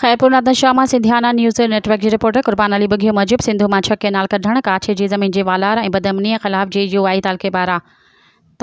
خيرپور نادن شاهه مان Sindhiana news network جي reporter Qurban Ali Bughio موجب سنڌو مان ڇهه ڪئنال ڪڍڻ ڪاڇي جي زمين جي والار ۽ بدامنيء خلاف جي يو آئي تعلقي پاران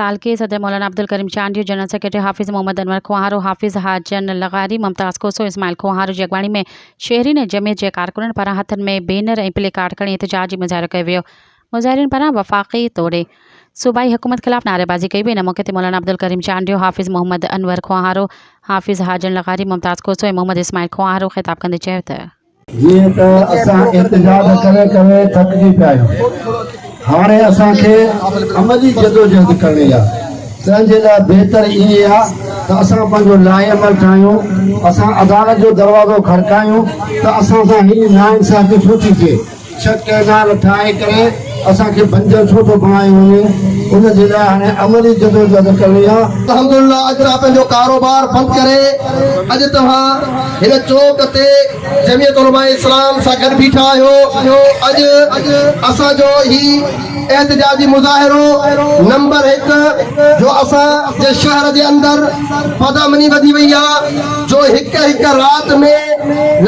تعلقي صدر مولانا عبدالڪريم چانڊيو جنرل سيڪريٽري حافظ محمد انور کوهارو حافظ حاجن لغاري ممتاز کوسو اسماعيل کوهارو جي اڳواڻي ۾ شهرين ۽ جمعيت جي ڪارڪنن پاران هٿن ۾ بينر ۽ پلي ڪارڊ کڻي احتجاج جي مظاهرو ڪيو ويو مظاهرين پاران وفاقي توڙي صوبائي حڪومت خلاف نعريبازي ڪئي وئي، ان موقعي تي مولانا عبدالڪريم چانڊيو، حافظ محمد انور کوهارو، حافظ حاجڻ لغاري، ممتاز کوسو ۽ محمد اسماعيل کوهارو خطاب ڪندي چيو ته. جيئن ته اسان احتجاج ڪري ڪري ٿڪجي پيا آهيون، هاڻي اسان کي عملي جدوجهد ڪرڻي آهي، تنهن جي لاء بهتر ائين آهي ته اسان پنهنجو لائحه عمل ٺاهيون، اسان عدالت جو دروازو کڙڪايون ته اسان سان هيڏي ناانصافي ڇو ٿي ٿئي؟ شڪ ۽ نا رٿائي ڪري اسان کي بنجر ڇو ٿو بڻايو وڃي ان جي لاء هاڻي عملي جدوجهد ڪرڻي آهي. الحمدلله اڄ توهان پنهنجو ڪاروبار بند ڪري اڄ توهان هن چوڪ تي جمعيت علماء اسلام سان گڏ بيٺا آهيو اڄ اسان جو هي احتجاجي مظاهرو نمبر هڪ جو اسان جي شهر جي اندر بدامني وڌي وئي آ جو هڪ هڪ رات ۾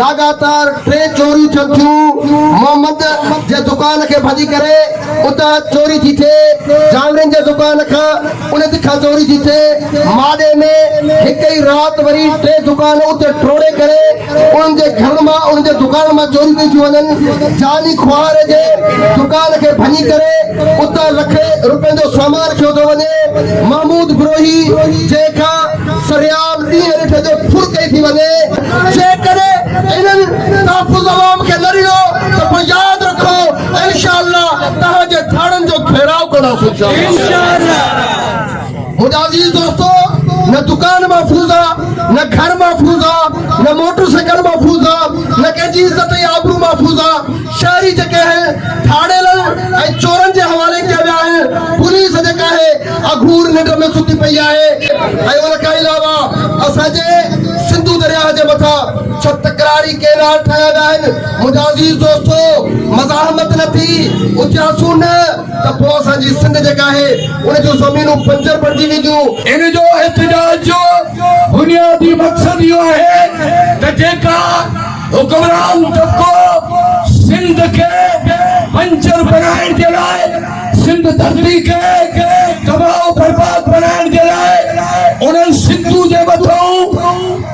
لاڳاتار ٽي چوريون ٿين ٿيون محمد جي دڪان کي ڀڄي ڪري اتان چوري ٿي ٿئي جانورين جي دڪان کان انت کان چوري ٿي ٿئي ماڏي ۾ هڪ ئي رات وري ٽي دڪان اتي ٽوڙي ڪري انهن جي گهرن مان انهن جي دڪانن مان چوريون ڪيون ٿيون وڃن، جعلي کوهاري جي دڪان کي ڀڃي ڪري اتان لکين روپين جو سامان کنيو ٿو وڃي، محمود بروهي جنهن کان سرعام ڏينهن رٺ جو ڦر ڪئي ٿي وڃي. جيڪڏهن انهن تحفظ عوام کي نه ڏنو ته پوء ياد رکو انشاء الله توهان جي ٿاڻن جو گهيراء ڪنداسون. منهنجا عزيز دوستو نه دڪان محفوظ آ نه گهر محفوظ آ نه موٽر سائيڪل محفوظ آ نه ڪنهن جي عزت ۽ آبرو محفوظ آ شهري جيڪي اهي ڌاڙيلن ۽ چورن جي حوالي ڪيا ويا آهن پوليس جيڪا اهي اگهور ننڊ ۾ ستي پئي آهي ۽ ان کان علاوه اسان جي سنڌو درياهه جي مٿان ڇهه تڪراري ڪينال ٺاهيا ويا آهن منهنجا عزيز دوستو مزاحمت نه ٿي اچياسون نه ته پوء اسان جي سنڌ جيڪا آهي ان جون زمينون بنجر بڻجي وينديون. ان جو احتجاج جو بنيادي مقصد اهو آهي ته جيڪا حڪمران طبقو سنڌ کي بنجر بڻائڻ جي لاء سنڌ ڌرتي کي تباهه و برباد بڻائڻ جي لاء انهن سنڌو جي مٿئون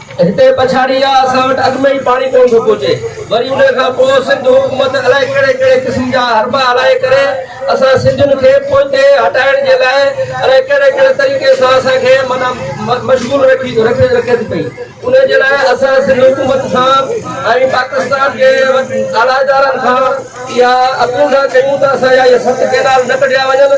هتي پڇاڙي آ اسان وٽ اڳ ۾ ئي پاڻي ڪون ٿو پهچي وري انهي کان پوء سنڌ حڪومت الائي ڪهڙي ڪهڙي قسم جا حربا هلائي ڪري اسان سنڌين کي پوئتي هٽائڻ جي لاء الائي ڪهڙي ڪهڙي طريقي سان اسان کي معنيٰ مشغول رکي رکي ٿي پئي انهي جي لاء اسان سنڌ حڪومت کان ۽ پاڪستان جي اعليٰ ادارن کان اها اپيل ٿا ڪيون ته اسان جا اهي ست ڪينال نه ڪڍيا وڃن